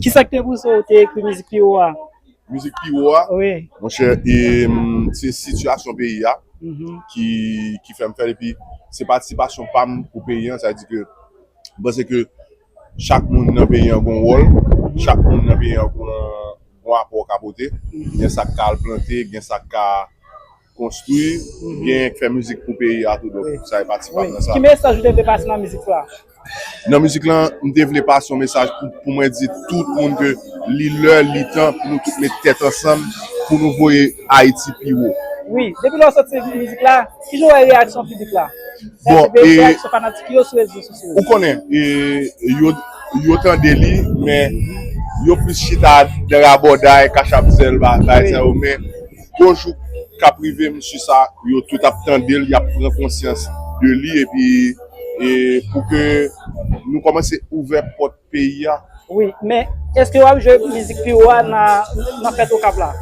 Kisa ki te pouse w te ekri mizik pi wo a? Mizik pi wo a? Wi. Monchè, se sitiyasyon peyi a ki fè m fè l. Epi, se patisipasyon pa m pou peyi an. Sa vle di ke m panse ke chak moun nan peyi an gen yon wòl. Chak moun nan peyi an gen yon apò ka pote. Gen sa k ka al plante, gen sa k ka. Konstwi, genyen k fè mizik pou peyi a tou donk sa e pati pam nan sa. Ki mesaj ou te vle pase nan mizik la? Nan mizik la, m te vle pase yon mesaj pou mwen di tout moun ke li lè, li tan pou nou tout met tèt ansanm pou nou voye Ayiti pi wo. Wi, depi lè w soti mizik la, ki jan w wè reyaksyon piblik la? Reyaksyon fanatik yo sou rezo sosyo yo? Ou konnen, yo tande li men yo plis chita nan rabòday, kachapzèl, bagay sa yo men. Bonjou kap rive mesye sa yo tout ap tandel yap pran konsyans de li epi pou ke nou komanse ouvè pòt peyi a. Wi men eske wap jwe mizik pi wo a nan fèt okap la.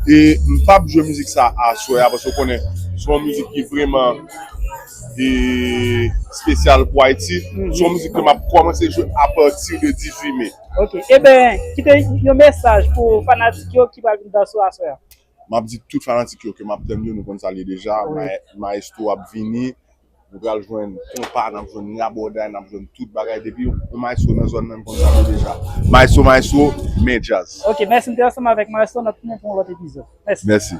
M pap jwe mizik sa aswè a paske ou konnen se yon mizik ki vreman espesyal pou ayiti se yon mizik ke map komanse jwe apati de 18 me. Ok eben kite yon mesaj pou fanatik yo ki pral vin dansou aswè a. Map di tout fanatik yo ke map tann yo nou konn sa liye deja maestro ap vini nou pral jwenn konpa nap jwenn rabòday nap jwenn tout bagay depi yon maestro nan zòn nan nou konn sa liye deja maestro maestro men djazz. Ok mèsi m te ansanm avèk maestro nap tounen pou yon lòt epizòd mèsi.